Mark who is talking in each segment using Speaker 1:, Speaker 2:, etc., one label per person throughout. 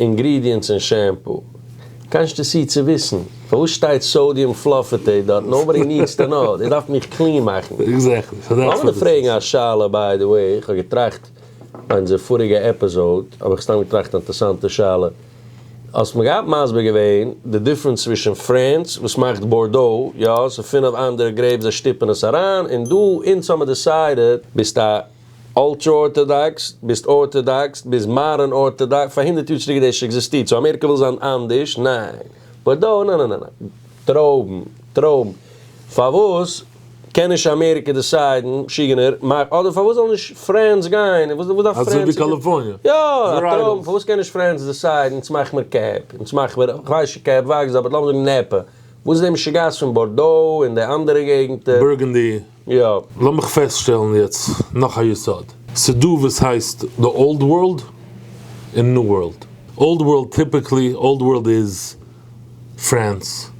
Speaker 1: אינגרידיענטס אין שעמפו. קאנשטעסי צו וויסן פארוואס שטייט סאודיום פלאפעטעיט דארט נאובאדי נידס טו נאו דאס דארף מיך קלין מאכן. עקזעקטלי סאו דעטס וואט איט איז. לאמיר
Speaker 2: דיר פרעגן א
Speaker 1: שאלה ביי די וועי איך האב געטראכט ביי אונזער פאריגע עפיזאוד האב איך סתם געטראכט א אינטערסאנטע שאלה האסט מיר געהאט מסביר געווען די דיפרענס צווישן פרענס וואס מאכט בארדאו יא ס'איז פינעף אנדערע גרעיפס זיי שטיפן עס אריין און דא אונז האמיר דיסיידעד ביסט א אולטרא ארטאדאקס, ביסט ארטאדאקס, ביסט מאדערן ארטאדאקס, פאר הונדערט יאר צוריק דאס עקזיסטירט, סאו אמעריקע וויל זיין אנדערש? ניין. באט דא? נא נא נא נא. טרויבן, טרויבן. פארוואס קען נישט אמעריקע דיסיידן, משוגענער, מאכט, אדער פארוואס זאל נישט פרענס גיין, וואס דארף פרענס? אזוי ווי
Speaker 2: קאליפארניע. יא, א טרויבן,
Speaker 1: פארוואס קען נישט פרענס דיסיידן, אונז מאכן מיר קעפ, אונז מאכן מיר, איך ווייס נישט קעפ וואקסט, אבער לאמיר זאגן נעפע, וואס איז די משוגעת פון בארדאו און די אנדערע געגנטער? בורגענדי.
Speaker 2: יא, לאמיך
Speaker 1: פעסטשטעלן
Speaker 2: יעצט נאך א יסוד. ס'דא וואס הייסט די אולד ווארלד און ניו ווארלד. אולד ווארלד טיפיקלי, אולד ווארלד איז פראנס,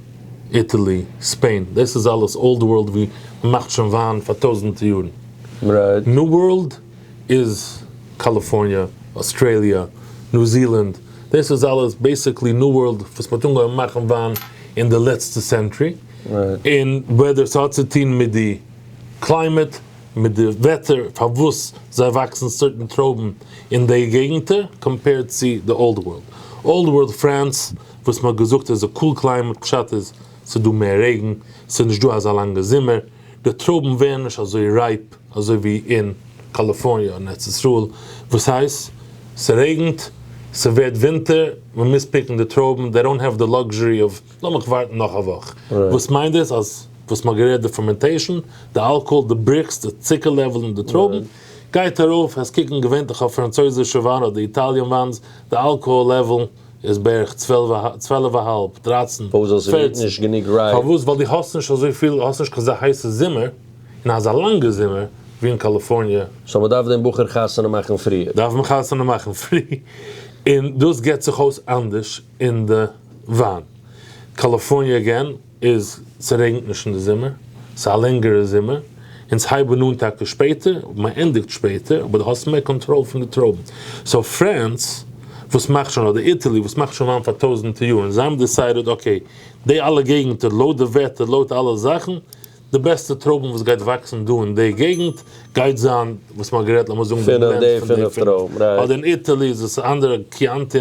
Speaker 2: איטעלי, ספעין, דאס איז אלעס אולד ווארלד ווי מ'מאכט שוין וויין פאר טויזענטע יארן. ניו
Speaker 1: ווארלד
Speaker 2: איז קאליפארניע, אויסטראליע, ניו זילאנד, דאס איז אלעס בעיסיקלי ניו ווארלד וואס מ'האט אנגעהויבן מאכן וויין אין די לעצטע סענטרי. און
Speaker 1: וועדער ס'האט
Speaker 2: צו טון מיט די קליימעט, מיט די וועטער פארוואס זיי וואקסן סערטען טרויבן אין די געגענטער קאמפעירד צו די אולד ווארלד. אולד ווארלד פרענס וואס מ'האט געזאגט איז א קול קליימעט פשט איז ס'איז דא מער רעגן, ס'איז נישט דא אזא לאנגע זומער, די טרויבן ווערן נישט אזוי רייפ אזוי ווי אין קאליפארניע און ארץ ישראל וואס הייסט ס'רעגנט ס'ווערט ווינטער מ'מוז פיקן די טרויבן, דעי דאונט העוו די לאקזשערי אוו. לאמיך ווארטן נאך א וואך. וואס מיינט דאס אז וואס מ'האט גערעדט די פארמענטעישן, די אלקאהאל, די בריקס, די צוקער לעוועל אין די טרויבן, גייט ארויף, עס קוקן געווענטליך אויף פראנצויזישע וויין אדער איטאליען וויינס, די אלקאהאל לעוועל איז בערך צוועלף א האלב, דרייצן, פערצן,
Speaker 1: פארוואס? ווייל די האסט נישט
Speaker 2: אזויפיל, האסט נישט קיין אזא הייסע זומער, און אזא לאנגע זומער, ווי אין קאליפארניע. סאו מ'דארף דעם בחור
Speaker 1: חתונה מאכן פריער. דארף מען חתונה מאכן
Speaker 2: פרי, און דאס געט זיך אויס אנדערש. אין די וויין קאליפארניע אגען איז ס'רעגנט נישט אין די זומער, ס'איז א לענגערע זומער, אונז הייבן אן טאקע שפעטער אבער מען ענדיגט שפעטער אבער די האסט מער קאנטראל פון די טרויבן, סאו פרענס וואס מאכט שוין אדער איטעלי וואס מאכט שוין וויין פאר טויזענטער יארן זיי האבן דיסיידעד אקעי די אלע געגענטער לויט די וועטער לויט אלע זאכן די בעסטע טרויבן וואס גייט וואקסן דא אין די געגענט גייט זיין וואס מען האט גערעדט לאמיר זאגן די בלענד פון די
Speaker 1: פינף אדער אין איטעלי איז עס
Speaker 2: אנדערע קיאנטי.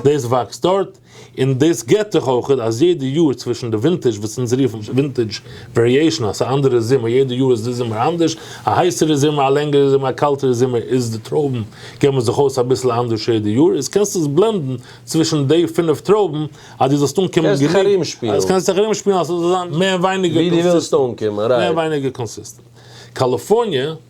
Speaker 2: דאס וואקסט דארט, און דאס געט זיך אויך אז יעדע יאר צווישן די ווינטעזש וואס אונז רופן ווינטעזש וועריעישן אז ס'איז א אנדערע זומער, יעדע יאר איז די זומער אנדערש, א הייסערע זומער, א לענגערע זומער, א קאלטערע זומער, איז די טרויבן געבן זיך אויס אביסל אנדערש יעדע יאר, איז קענסטו עס בלענדן צווישן די פינף טרויבן אז דו זאלסט אנקומען גענוג, קענסט דיך ארומשפילן,
Speaker 1: קענסט דיך ארומשפילן אז
Speaker 2: ס'זאל זיין מער ווייניגער קאנסיסטענט,
Speaker 1: מער ווייניגער קאנסיסטענט.
Speaker 2: קאליפארניע.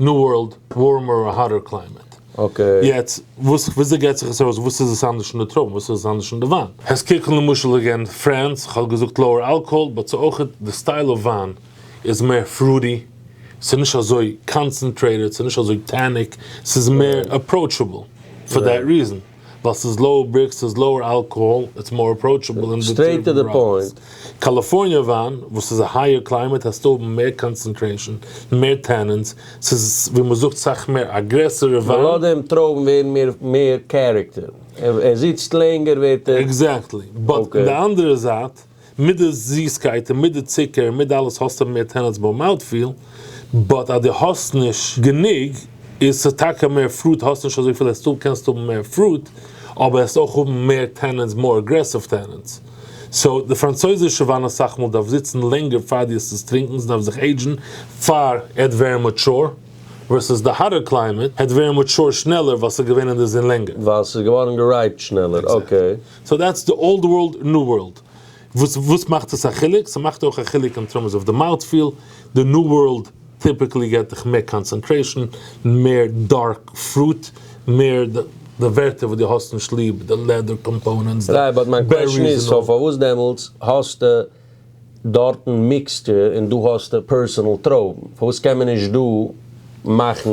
Speaker 2: ניו ווארלד, ווארמער אר האטער קליימעט. אקעי. יעצט,
Speaker 1: וואס,
Speaker 2: וויאזוי גייט זיך עס אויס, וואס איז עס אנדערש אין די טרויבן, וואס איז עס אנדערש אין די וויין? העסט קוקן למשל אגעין פרענס, איך האב געזאגט לאוער אלקאהאל, באט ס'איז אויך די סטייל אוו וויין איז מער פרוטי, ס'איז נישט אזוי קאנצענטרעיטעד, ס'איז נישט אזוי טעניק, ס'איז מער אפראוטשעבל, פאר דעט ריזען. ווייל ס'איז לאוער בריקס, ס'איז לאוער אלקאהאל, איטס מאר אפראוטשעבל און די טעם איז רייס.
Speaker 1: קאליפארניע
Speaker 2: וויין וואס איז א הייער קליימעט העסטו האבן מער קאנצענטרעישאן, מער טענינס, ס'איז ווי מ'זאגט סאך מער א גרעסערע וויין. ווייל אויפדעם טרויבן
Speaker 1: ווערן מער מער קערעקטער, ער זיצט לענגער ווערט ער. עקזעקטלי, באט
Speaker 2: אין די אנדערע זייט. מיט די זיסקייט און מיט די צוקער און מיט די אלעס האסטו מער טענעטס ביי מאוטפיל, באט אז דו האסט נישט גענוג איז ס'איז טאקע מער פרוט האסט נישט אזויפיל אז דו קענסט האבן מער פרוט אבער העסט אויך האבן מער טענענטס מאר אגרעסיוו טענענטס סאו די פראנצויזישע וויין אסאך מאל דארף זיצן לענגער פאר דו עסט עס טרינקן ס'דארף זיך עידזשן פאר ער וועט ווערן מאטשור ווערסעס די האטער קליימעט ער וועט ווערן מאטשור שנעלער ווייל ס'איז געווען אין די זון לענגער. ווייל ס'איז געווארן גערייפט
Speaker 1: שנעלער אקעי. סאו
Speaker 2: דעטס די
Speaker 1: אולד
Speaker 2: ווארלד, ניו ווארלד. וואס וואס מאכט עס א חילוק? ס'מאכט אויך א חילוק אין טערמס אוו די מאוט פיל, די ניו ווארלד טיפיקלי געט דיך מער קאנצענטרעישן, מער דארק פרוט, מער די ווערטער וואס די האסט נישט ליב, די לעדער קאמפאונענטס, די בעריס און אויל. רייבאט מיין קוועשן
Speaker 1: איז סאו פארוואס דעמאלטס האסטו דארטן מיקסטו און דא האסטו פערסענעל טרויבן, פארוואס קען מען נישט דא מאכן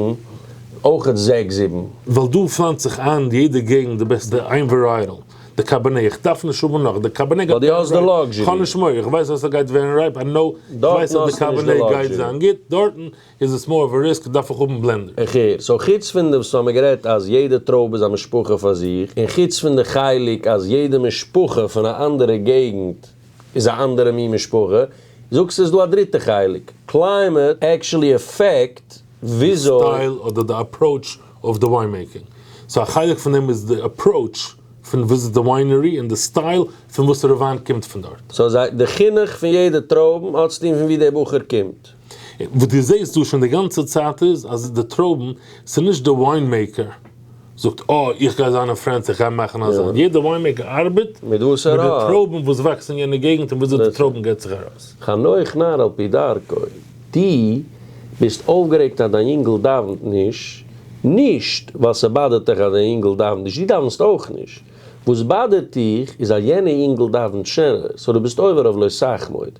Speaker 1: אויכעט זעקס זיבן? ווייל דא פלאנצט
Speaker 2: זיך איין יעדע געגנט די בעסטע איין ווערייעטל, די קאבערנעי, איך דארף נישט האבן נאך, די קאבערנעי גייט ווערן רייפ,
Speaker 1: כ'האב נישט מורא, איך ווייס אז
Speaker 2: ס'גייט ווערן רייפ, איי נאו, איך ווייס אז די קאבערנעי גייט זיין גוט, דארטן איז עס מאר אוו א ריסק? דארף איך האבן בלענדער? איך הער. סאו חוץ פון
Speaker 1: דעם ס'האמיר גערעדט אז יעדע טרויבע איז א משפחה פאר זיך, און חוץ פון די חלק אז יעדע משפחה פון א אנדערע געגנט איז א אנדערע מין משפחה, זאגסטו איז דא א דריטע חלק, קליימעט עקשעלי עפעקט, די וויאזוי? סטייל אדער די
Speaker 2: אפראוטש אויף די וויין מעיקינג. סאו א חלק פון דעם איז די אפראוטש פון וויזיט די וויינערי און די סטייל פון וואסערע וויין קומט פון דארט. סאו די חינוך
Speaker 1: פון יעדע טרויבן האט צוטון פון ווי די בחור קומט? וואס דו זעהסט
Speaker 2: דא שוין די גאנצע צייט איז אז די טרויבן, ס'איז נישט די וויין מעיקער זאגט אה איך גיי זיין אין פרענס איך גיי מאכן א זיין, יעדע וויין מעיקער ארבעט מיט די טרויבן וואס וואקסן אין יענע געגנט און וויאזוי די טרויבן געבט זיך ארויס. חנוך נאר על
Speaker 1: פי דרכו, דו ביסט אויפגערעגט אז דיין יונגעל דאווענט נישט, נישט ווייל ס'באדערט דיך אז דיין יונגעל דאווענט נישט, דו דאווענסט אויך נישט, וואס באדערט דיך איז אז יענע יונגעל דאווענט שענער, סאו דו ביסט עובר אויף לא סח מוד.